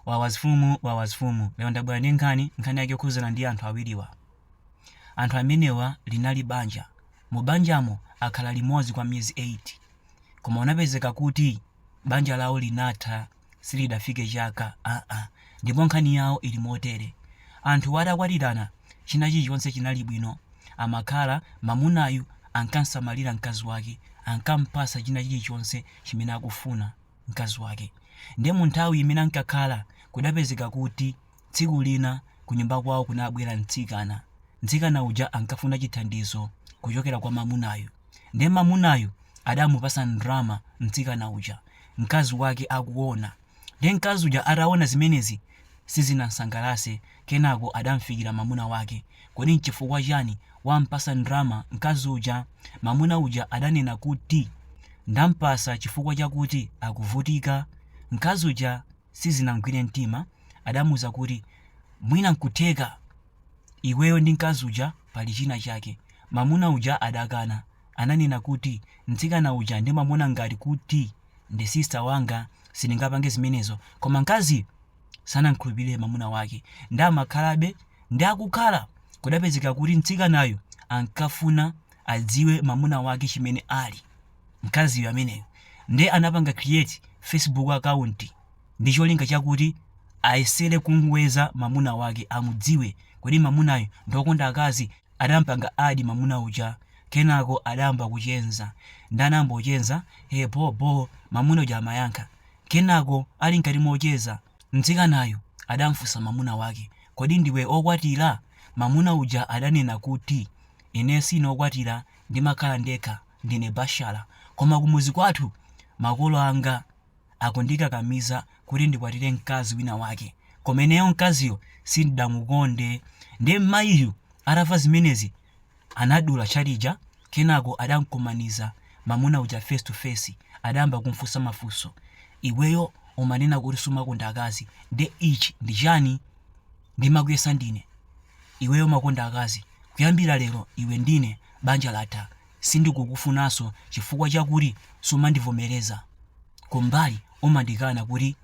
Wawa zfumu wawa zfumu lero ndabwera ndi nkhani nkhani yake yokhuzana ndi anthu awiriwa anthu amenewa linali banja mu banjamo akhala limodzi kwa miyezi 8 koma unapezeka kuti banja lawo linatha silidafike chaka aa ndipo nkhani yawo ili motere anthuwa atakwatirana china chilichonse chinali bwino amakhala mamunayu ankansamalira mkazi wake ankampasa china chilichonse chimene akufuna mkazi wake. Ndiye mu nthawi imene ankakhala, kudapezeka kuti tsiku lina kunyumba kwawo kunabwera mtsikana. Mtsikana uja ankafuna chithandizo kuchokera kwa mamunayu. Ndiye mamunayu adamupasa ndrama mtsikana uja, mkazi wake akuona. Ndiye mkazi uja ataona zimenezi sizinamsangalase kenako adamfikira mamuna wake kodi nchifukwa chani wampasa ndrama mkazi uja? mamuna uja adanena kuti ndampasa chifukwa chakuti akuvutika mkazi uja sizinamgwire mtima adamuuza kuti mwina nkutheka iweyo ndi mkazi uja pali china chake mamuna uja adakana ananena kuti mtsikana uja ndimamuona ngati kuti ndi sister wanga Sindingapange zimenezo. Koma mkaziyu sanamkhulupirire mamuna wake ndi amakhalabe ndi akukhala. Kudapezeka kuti mtsikanayo ankafuna adziwe mamuna wake chimene ali. Mkaziyo ameneyo nde anapanga create Facebook account ndi cholinga chakuti ayesere kumweza mamuna wake amudziwe. Kodi mamunayo ndi okonda akazi? Adampanga add mamuna uja kenako adayamba kucheza nde anayamba kucheza he bho bho mamuna uja amayankha kenako ali mkati mocheza mtsikanayo adamfunsa mamuna wake kodi ndiwe okwatira mamuna uja adanena kuti ine sine okwatira ndimakhala ndekha ndine bashala koma kumuzi kwathu makolo anga akundikakamiza kuti ndikwatire mkazi wina wake koma ineyo mkaziyo sindidamukonde ndiye mayiyu atamva zimenezi anadula chat ija kenako adamkumaniza mamuna uja face to face adayamba kumfunsa mafunso iweyo umanena kuti sumakonda akazi nde ichi ndi chani ndimakuyesa ndine iweyo umakonda akazi kuyambira lero iwe ndine banja latha Sindikukufunaso chifukwa chakuti sumandivomereza kumbali umandikana kuti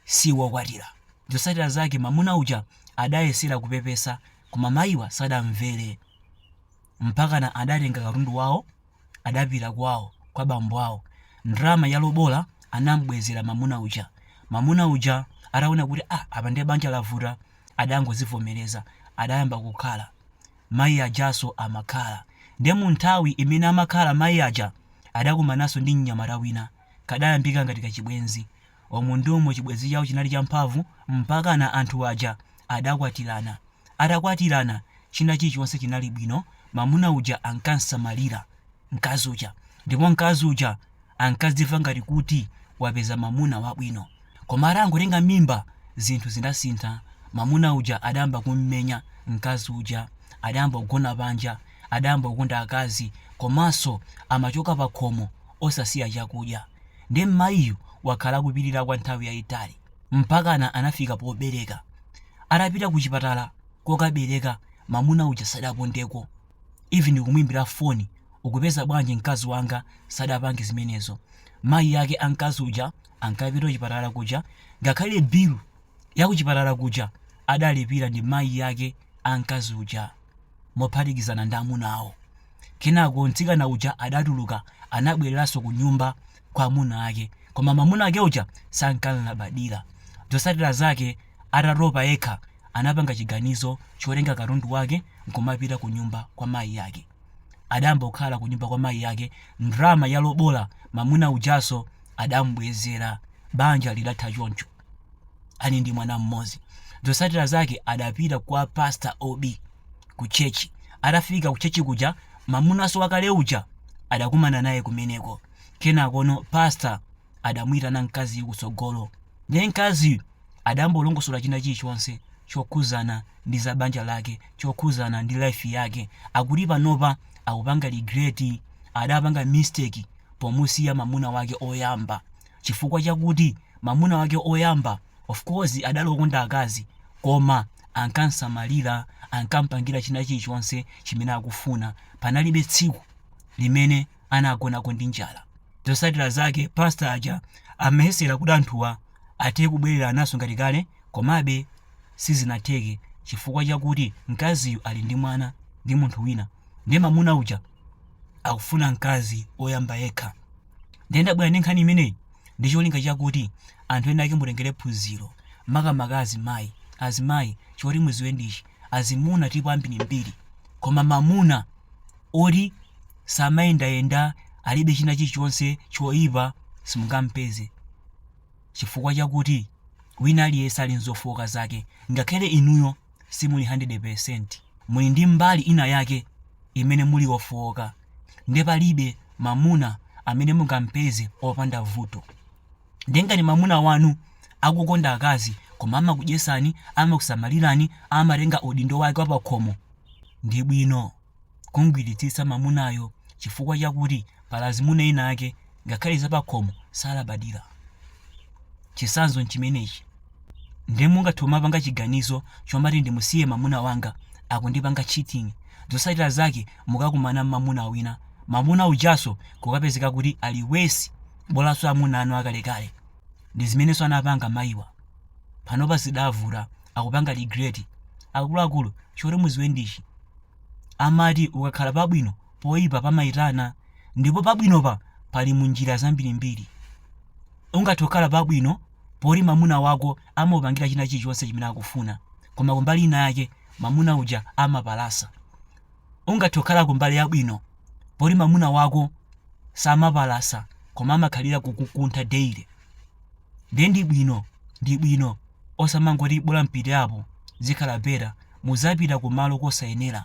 si wokwatira. Zotsatira zake mamuna uja adayesera kupepesa koma mayiwa sadamvere mpakana adatenga katundu wawo adapita kwawo kwa bambo awo. Ndrama ya lobola anam'bwezera mamuna uja. Mamuna uja ataona kuti ah apa ndiye banja lavuta. adangozivomereza adayamba kukhala mayi ajaso amakhala nde munthawi imene amakhala mayi aja adakumananso ndi mnyamata wina kadayambika ngati kachibwenzi umu ndi umo chibwenzi chawo chinali champhamvu mpakana anthu aja adakwatirana atakwatirana china chilichonse chinali bwino mamuna uja ankamsamalira mkazi uja ndipo mkazi uja ankadzimva ngati kuti wapeza mamuna wabwino Koma atangotenga mimba, zinthu zidasintha. Mamuna uja adayamba kummenya mkazi uja, adayamba kugona panja, adayamba kukonda akazi komanso amachoka pakhomo osasiya chakudya. Ndiye mmayiyu wakhala akupirira kwa nthawi yayitali mpakana anafika pobereka. Atapita kuchipatala kokabereka, mamuna uja sadapondeko. even kumuimbira phone ukupeza bwanji mkazi wanga sadapange zimenezo mayi ake a mkazi uja ankapita kuchipatala kuja ngakhale bilu yakuchipatala kuja adalipira ndi mayi ake a mkazi uja mophatikizana ndi amuna awo kenako mtsikana uja adatuluka anabwereranso ku nyumba kwa amuna ake koma mamuna ake uja sankalabadira zotsatira zake Atatopa yekha, anapanga chiganizo chotenga katundu wake nkumapita kunyumba kwa mayi ake. Adayamba kukhala kunyumba kwa mayi ake, ndalama ya lobola mamuna ujanso adamubwezera. Banja lidatha choncho. Ali ndi mwana mmodzi. Zotsatira zake adapita kwa pastor OB ku church. Atafika ku church kuja, mamunanso wakale uja adakumana naye kumeneko. Kenakono pastor. adamuyitana mkaziyu kutsogolo ndiye mkaziyu adambolongosola china chilichonse chokhuzana ndi za banja lake chokhuzana ndi life yake akuti panopa akupanga regret adapanga mistake pomusiya mamuna wake oyamba chifukwa chakuti mamuna wake oyamba of course adali okonda akazi koma ankamsamalira ankampangira china chilichonse chimene akufuna panalibe tsiku limene anagonako ndi njala. Zotsatira zake pastor aja ayesera kuti anthuwa athe kubwererananso ngati kale komabe sizinatheke chifukwa chakuti mkaziyu ali ndi mwana ndi munthu wina nde mamuna uja akufuna mkazi oyamba yekha nde ndabwera ndi nkhani imeneyi ndi cholinga chakuti anthu enaake mutengere phunziro makamaka azimayi azimayi choti mudziwe ndichi azimuna tipo ambirimbiri koma mamuna oti samayendayenda, alibe china chichonse choipa, simungampeze chifukwa chakuti wina aliyense ali n'zofooka zake. Ngakhale inuyo simuli 100 peresenti, muli ndi mbali inayake imene muli wofooka. Ndiye palibe mamuna amene mungampeze opanda vuto. Ndiye ngati mamuna wanu akukonda akazi, koma amakudyesani, amakusamalirani, amatenga udindo wake wapakhomo, ndi bwino. kumgwiritsitsa mamunayo chifukwa chakuti pali azimuna ena ake ngakhale zapakhomo salabadira. Chisanzo nchimenechi. Nde mungathe kumapanga chiganizo chomati ndimusiye mamuna wanga akundipanga cheating, zosatira zake mukakumana mmamuna wina, mamuna ujanso kukapezeka kuti ali worse bolanso amuna anu akalekale. Ndizimenenso anapanga mayiwa. Panopa zidavuta akupanga regret. Akuluakulu choti muziwe ndichi. amati ukakhala pabwino poipa pamaitana ndipo pabwinopa pali munjira zambirimbiri ungathe kukhala pabwino poti mamuna wako amapangira china chilichonse chimene akufuna koma kumbali ina yake mamuna uja amapalasa ungathe kukhala kumbali yabwino poti mamuna wako samapalasa koma amakhalira kukukuntha daily Ndiye ndi bwino ndi bwino osamangoti bola ndipite apo zikhala better muzapita kumalo kosayenera.